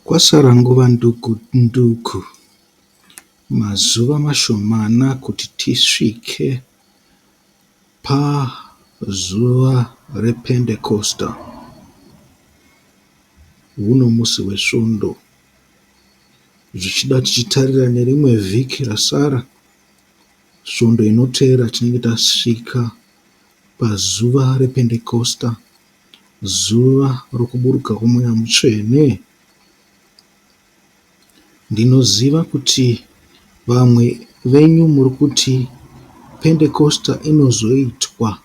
Kwasara nguva nduku nduku, mazuva mashomana kuti tisvike pazuva rePendekosta, huno musi weSvondo, zvichida tichitarira nerimwe vhiki rasara, Svondo inoteera tinenge tasvika pazuva rePendekosta. Zuva rokuburuka kwoMweya Mutsvene, ndinoziva kuti vamwe venyu muri kuti Pentekosta inozoitwa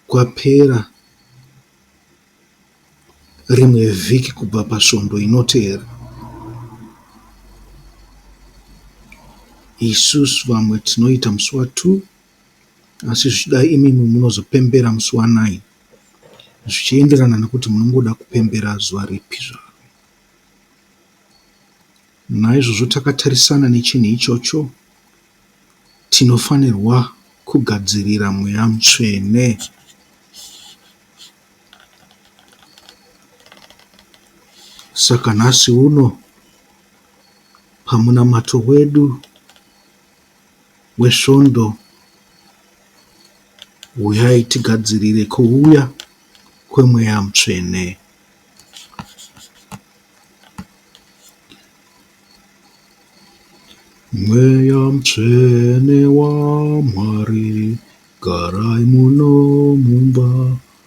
kwapera rimwe vhiki kubva paSvondo inotevera. Isusu vamwe tinoita musi wa2. Asi zvichida imimi munozopembera musi wa nine zvichienderana nekuti munongoda kupembera zuva ripi zvaro. Naizvozvo takatarisana nechinhu ichocho tinofanirwa kugadzirira mweya mutsvene. Saka nhasi uno pamunamato wedu wesvondo huyai tigadzirire kuuya kwemweya mutsvene. Mweya mutsvene waMwari garai muno mumba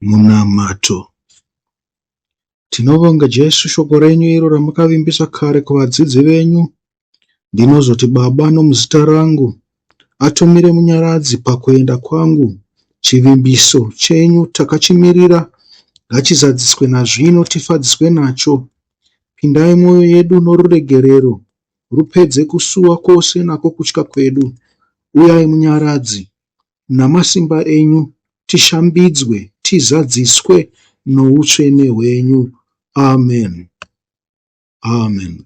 Munamato. Tinovonga Jesu shoko renyu iro ramakavimbisa kare kuvadzidzi venyu. Ndinozoti Baba nomuzita rangu atumire munyaradzi pakuenda kwangu. Chivimbiso chenyu takachimirira ngachizadziswe nazvino tifadziswe nacho. Pindai mwoyo yedu noruregerero Rupedze kusuwa kwose nako kutya kwedu, Uyai Munyaradzi, namasimba enyu, Tishambidzwe, tizadziswe noutsvene hwenyu. Amen. Amen.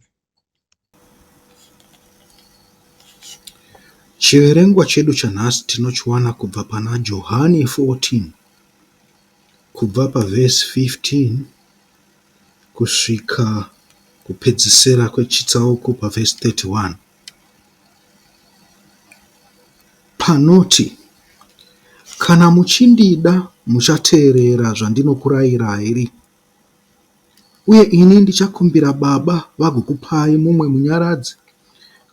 Chiverengwa chedu chanhasi tinochiwana kubva pana Johani 14 kubva pavhesi 15 kusvika kupedzisira kwechitsauko pavhesi 31 panoti, Kana muchindida muchateerera zvandinokurayirai, uye ini ndichakumbira Baba vagokupai mumwe Munyaradzi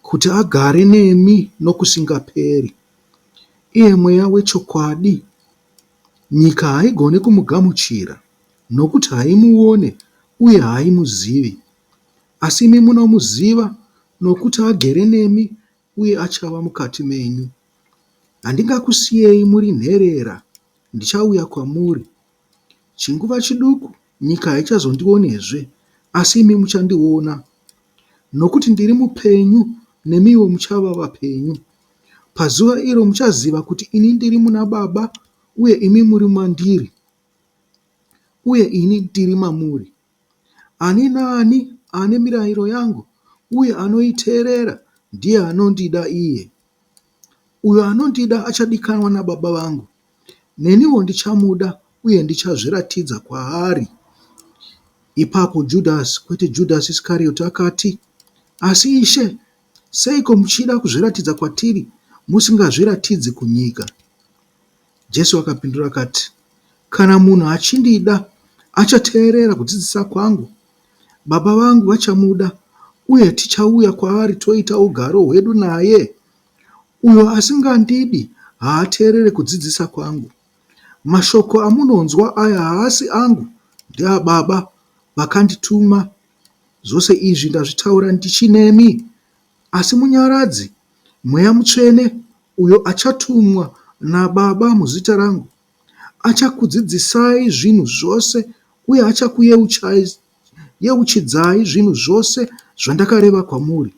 kuti agare nemi nokusingaperi, iye Mweya wechokwadi, nyika haigoni kumugamuchira, Nokuti haimuone, uye haimuzivi. Asi imi munomuziva, nokuti agere nemi uye achava mukati menyu. Handingakusiyei muri nherera, ndichauya kwamuri. Chinguva chiduku nyika haichazondionezve, asi imi muchandiona. Nokuti ndiri mupenyu, nemiwo muchava vapenyu. Pazuva iro muchaziva kuti ini ndiri muna Baba, uye imi muri mandiri. uye ini ndiri mamuri. Ani naani ane mirayiro yangu uye anoiteerera ndiye anondida iye. Uyo anondida achadikanwa naBaba vangu, neniwo ndichamuda uye ndichazviratidza kwaari. Ipapo Judhasi, kwete Judhasi Iskarioti, akati, Asi Ishe, seiko muchida kuzviratidza kwatiri musingazviratidzi kunyika? Jesu akapindura akati, Kana munhu achindida, achateerera kudzidzisa kwangu. Baba vangu vachamuda, uye tichauya kwaari toita ugaro hwedu naye. Uyo asingandidi haateerere kudzidzisa kwangu. Mashoko amunonzwa aya haasi angu, ndeaBaba vakandituma. Zvose izvi ndazvitaura ndichinemi Asi Munyaradzi, Mweya Mutsvene, uyo achatumwa naBaba muzita rangu, achakudzidzisai zvinhu zvose uye achakuyeuchidzai zvinhu zvose zvandakareva kwamuri.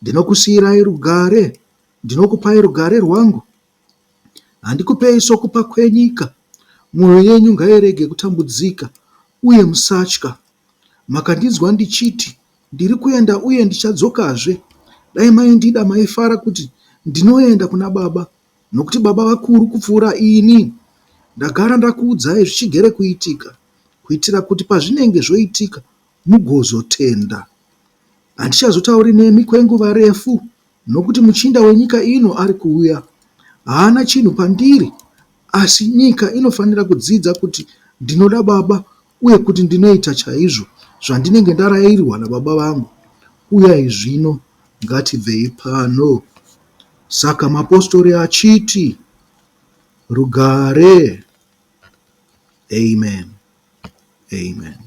Ndinokusiyirai rugare, ndinokupai rugare rwangu, handikupei sokupa kwenyika. Mwoyo yenyu ngairege kutambudzika, uye musatya. Makandinzwa ndichiti, Ndiri kuenda uye ndichadzokazve. Dai maindida maifara kuti ndinoenda kuna Baba, nokuti Baba vakuru kupfuura ini. Ndagara ndakuudzai zvichigere kuitika, kuitira kuti pazvinenge zvoitika mugozotenda. Handichazotauri nemi kwenguva refu. Nokuti muchinda wenyika ino ari kuuya, haana chinhu pandiri, asi nyika inofanira kudzidza kuti ndinoda Baba uye kuti ndinoita chaizvo zvandinenge ndarairwa naBaba vangu. Uyai zvino, ngatibvei pano. Saka mapostori achiti, Rugare! Amen. Amen.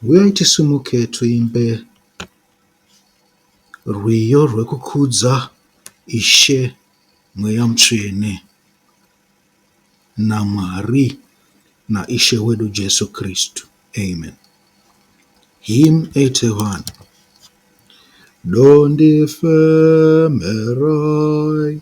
Huyai tisimuke tuimbe rwiyo rwekukudza Ishe Mweya Mutsvene naMwari naIshe wedu Jesu Kristu. Amen. Hymn 81. Dondifemerai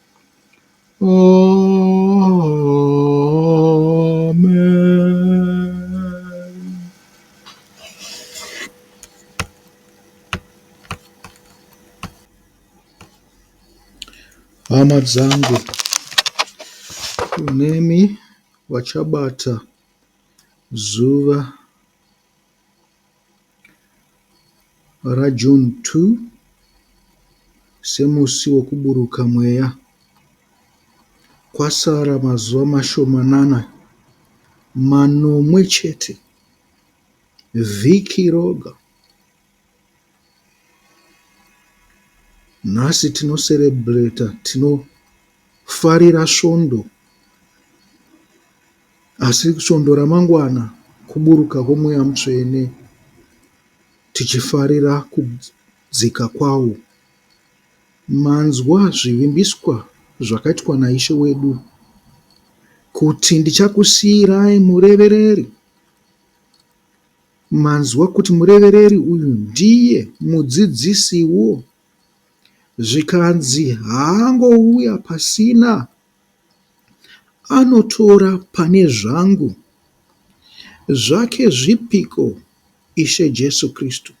Hama dzangu kunemi vachabata zuva RaJune 2 semusi wokuburuka mweya. Kwasara mazuva mashomanana manomwe chete vhiki roga. Nhasi tino celebrater, tinofarira svondo asi svondo ramangwana kuburuka kwomweya mutsvene tichifarira kudzika kwawo. Manzwa zvivimbiswa zvakaitwa naIshe wedu kuti ndichakusiirai murevereri. Manzwa kuti murevereri uyu ndiye mudzidzisiwo zvikanzi haangouya pasina anotora pane zvangu zvake zvipiko Ishe Jesu Kristu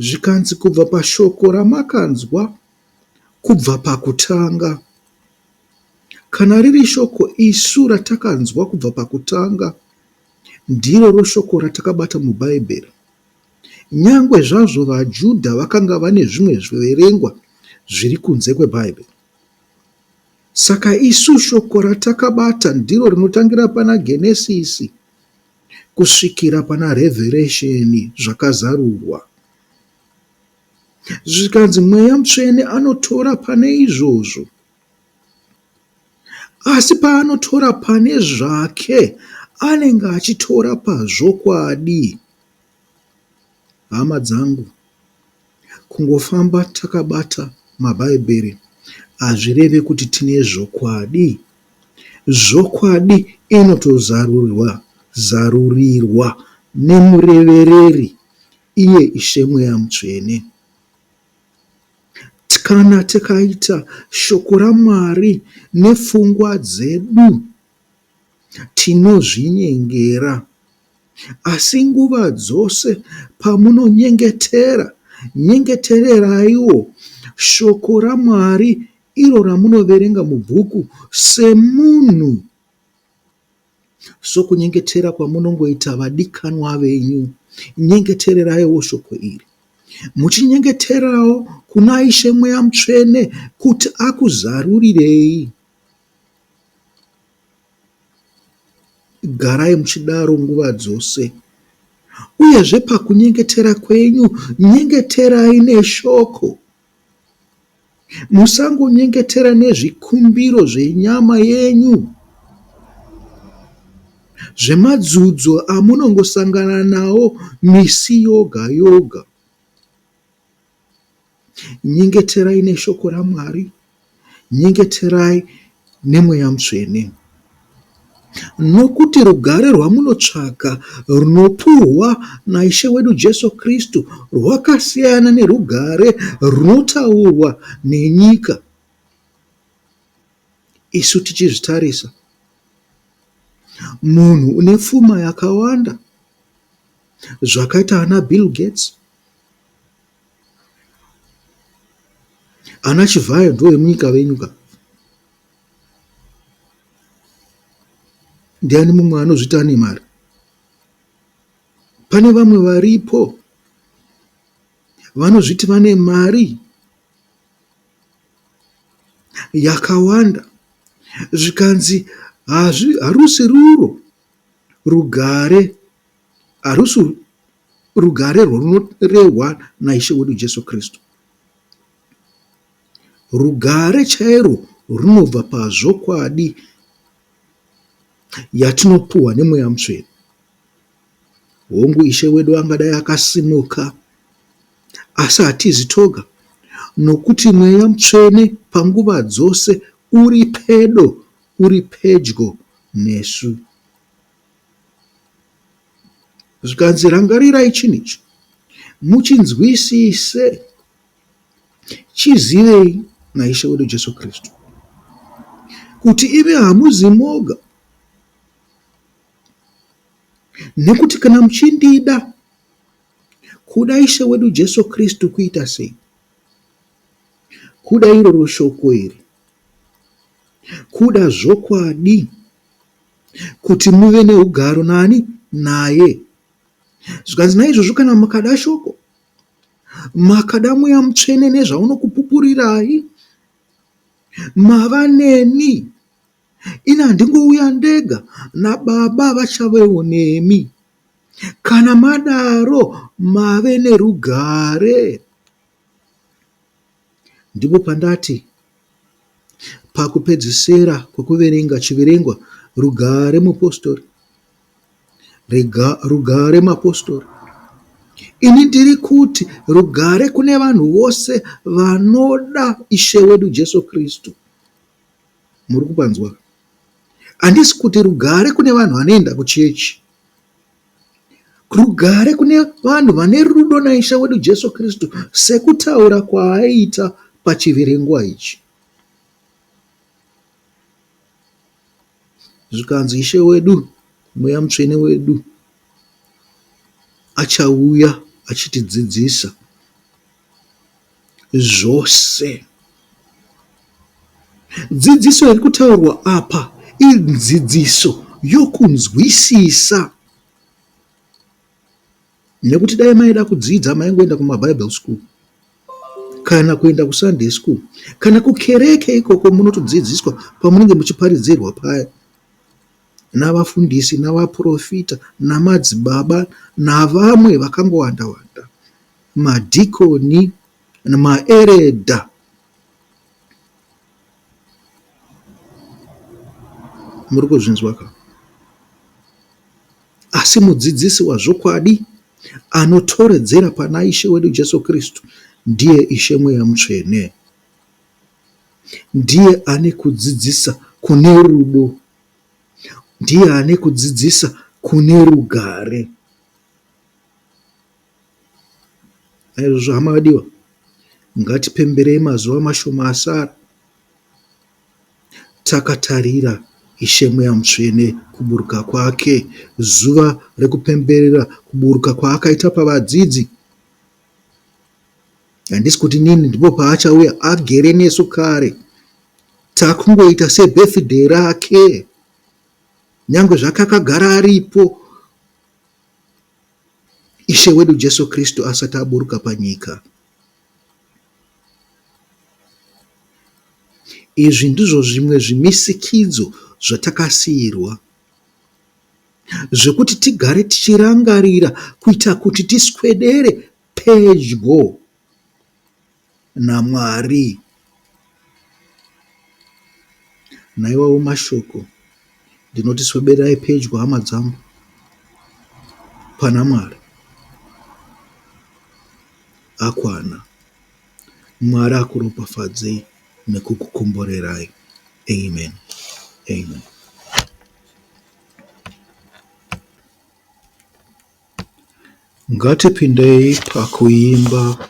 zvikanzi kubva pashoko ramakanzwa kubva pakutanga kana riri shoko isu ratakanzwa kubva pakutanga Ndiroro shoko ratakabata muBhaibheri. Nyangwe zvazvo vaJudha vakanga vane zvimwe zviverengwa zviri kunze kweBhaibheri. Saka isu shoko ratakabata ndiro rinotangira pana Genesisi kusvikira pana Revheresheni zvakazarurwa. Zvikanzi mweya mutsvene anotora pane izvozvo. Asi paanotora pane zvake anenge achitora pazvokwadi. Hama dzangu, kungofamba takabata maBhaibheri hazvireve kuti tine zvokwadi. Zvokwadi inotozarurirwa nemurevereri, iye Ishe Mweya Mutsvene. Kana tikaita Shoko raMwari nepfungwa dzedu, tinozvinyengera. Asi nguva dzose pamunonyengetera, nyengetereraiwo Shoko raMwari iro ramunoverenga mubhuku semunhu. Sokunyengetera kwamunongoita vadikanwa venyu, nyengetereraiwo shoko iri. Muchinyengeterawo kuna Ishe Mweya Mutsvene kuti akuzarurirei. Garai muchidaro nguva dzose. Uyezve pakunyengetera kwenyu, nyengeterai neshoko. Musangonyengetera nezvikumbiro zvenyama yenyu, zvemadzudzo amunongosangana nawo misi yoga yoga. Nyengeterai neshoko raMwari Nyengeterai neMweya Mutsvene. Nokuti rugare rwamunotsvaka runopuhwa naIshe wedu Jesu Kristu rwakasiyana nerugare runotaurwa nenyika, isu tichizvitarisa. Munhu une pfuma yakawanda, zvakaita ana Bill Gates, Ana Chivhayo ndivo vemunyika venyu ka. Ndiani mumwe anozviti ane mari? Pane vamwe varipo vanozviti vane mari yakawanda zvikanzi harusi ruro rugare harusi Rugare rwunorehwa naIshe wedu Jesu Kristu. Rugare chairwo runobva pazvokwadi yatinopuhwa nemweya mutsvene. Hongu, Ishe wedu angadai akasimuka, asi hatizi toga, nokuti mweya mutsvene panguva dzose uri pedo, uri pedyo nesu. Zvikanzi rangarirai chinhu ichi, muchinzwisise, chizivei naIshe wedu Jesu Kristu, kuti imi hamuzi moga, nekuti kana muchindida kuda Ishe wedu Jesu Kristu kuita sei? Kuda iroro shoko iri, kuda zvokwadi kuti muve neugaro naani? Naye. Zvikanzi, Naizvozvo kana makada Shoko, makada Mweya Mutsvene nezvaunokupupurirai, mava neni. Ini handingouya ndega, naBaba vachavewo nemi. Kana madaro, mave nerugare. Ndipo pandati pakupedzisira kwekuverenga chiverengwa Rugare mupostori, rega rugare mapostori. Ini ndiri kuti rugare kune vanhu vose vanoda Ishe wedu Jesu Kristu. Muri kupanzwa? Handisi kuti rugare kune vanhu vanoenda kuchechi. Rugare kune vanhu vane rudo naIshe wedu Jesu Kristu, sekutaura kwaaita pachiverengwa ichi. Zvikanzi Ishe wedu, Mweya Mutsvene wedu achauya achitidzidzisa. zvose. Dzidziso iri kutaurwa apa idzidziso yokunzwisisa nekuti dai maida kudzidza maingoenda kumabible school kana kuenda kusunday school kana kukereke ikoko munotodzidziswa pamunenge muchiparidzirwa paya navafundisi navaprofita namadzibaba navamwe vakangowanda wanda madhikoni namaeredha. Muri kuzvinzwa ka? Asi mudzidzisi wazvokwadi anotoredzera pana Ishe wedu Jesu Kristu ndiye Ishe Mweya Mutsvene. Ndiye ane kudzidzisa kune rudo, ndiye ane kudzidzisa kune rugare. Naizvozvo hama vadiwa, ngatipemberei mazuva mashoma asara takatarira Ishe Mweya Mutsvene kuburuka kwake, zuva rekupemberera kuburuka kwaakaita pavadzidzi. Handisi kuti nini ndipo paachauya, agere nesu kare. Takungoita sebirthday rake, nyange zvake akagara aripo Ishe wedu Jesu Kristu asati aburuka panyika. Izvi ndizvo zvimwe zvimisikidzo zvatakasiirwa zvekuti tigare tichirangarira kuita kuti tiswedere pedyo. naMwari. Naiwawo mashoko ndinoti sweberai pedyo hama dzangu pana Mwari akwana. Mwari akuropafadzei nekukukomborerai. Amen. Amen. Ngatipindei pakuimba.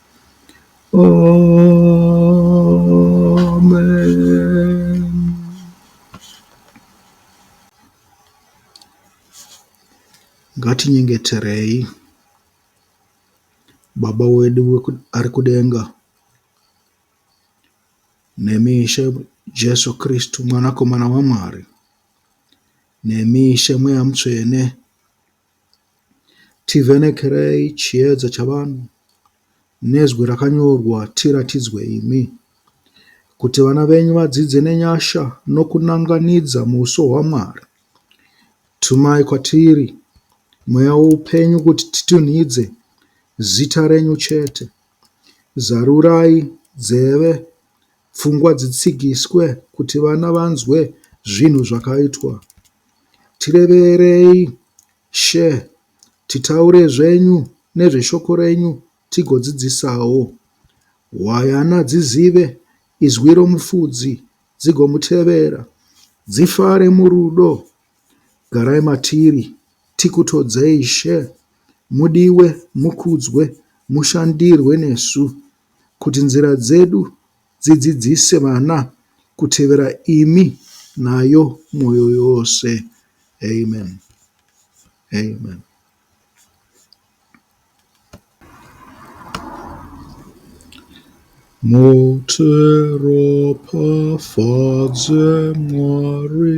Amen. ngatinyengeterei baba wedu ari kudenga nemi ishe jesu kristu mwanakomana wamwari nemi ishe mweya mutsvene Tivhenekerei chiedza chavanhu nezwi rakanyorwa Tiratidzwe imi, kuti vana venyu vadzidze nenyasha nokunan'ganidza muuso hwaMwari. Tumai kwatiri Mweya woupenyu kuti titunhidze zita renyu chete. Zarurai nzeve Pfungwa dzitsigiswe kuti vana vanzwe zvinhu zvakaitwa. Tireverei She titaure zvenyu nezveshoko renyu tigodzidzisawo. Hwayana dzizive izwi romufudzi dzigomutevera. Dzifare murudo garai matiri tikutodzei She. Mudiwe mukudzwe mushandirwe nesu kuti nzira dzedu dzidzidzise vana kutevera imi nayo mwoyo yose. Amen. Amen. Muteropafadze Mwari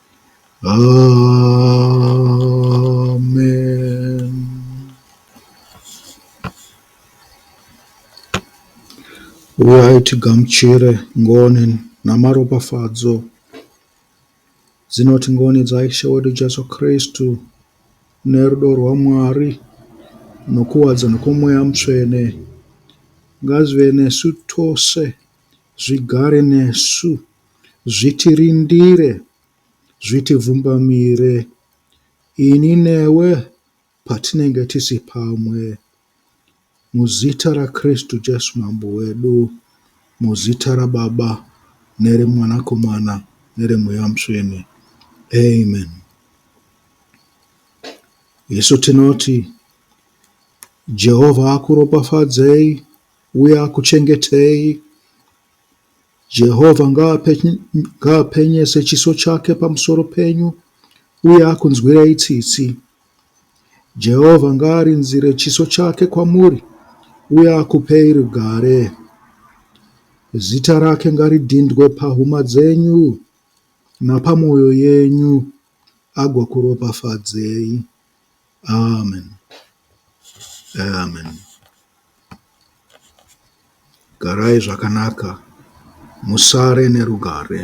Amen. Uyai tigamuchire ngoni namaropafadzo dzinoti ngoni dzaIshe wedu Jesu Kristu nerudo rwaMwari nokuwadza nokwomweya mutsvene ngazvive nesu tose zvigare nesu. Zvitirindire, zvitivhumbamire ini newe patinenge tisi pamwe. Muzita raKristu Jesu Mambo wedu, muzita raBaba nereMwanakomana nereMweya Mutsvene. Amen. Isu tinoti Jehovha akuropafadzei uye akuchengetei Jehovha ngaapenyese chiso chake pamusoro penyu uye akunzwirei tsitsi. Jehovha ngaarinzire chiso chake kwamuri uye akupei rugare. Zita rake ngaridhindwe pahuma dzenyu napamwoyo yenyu, agokuropafadzei. Amen Amen garai zvakanaka musare nerugare.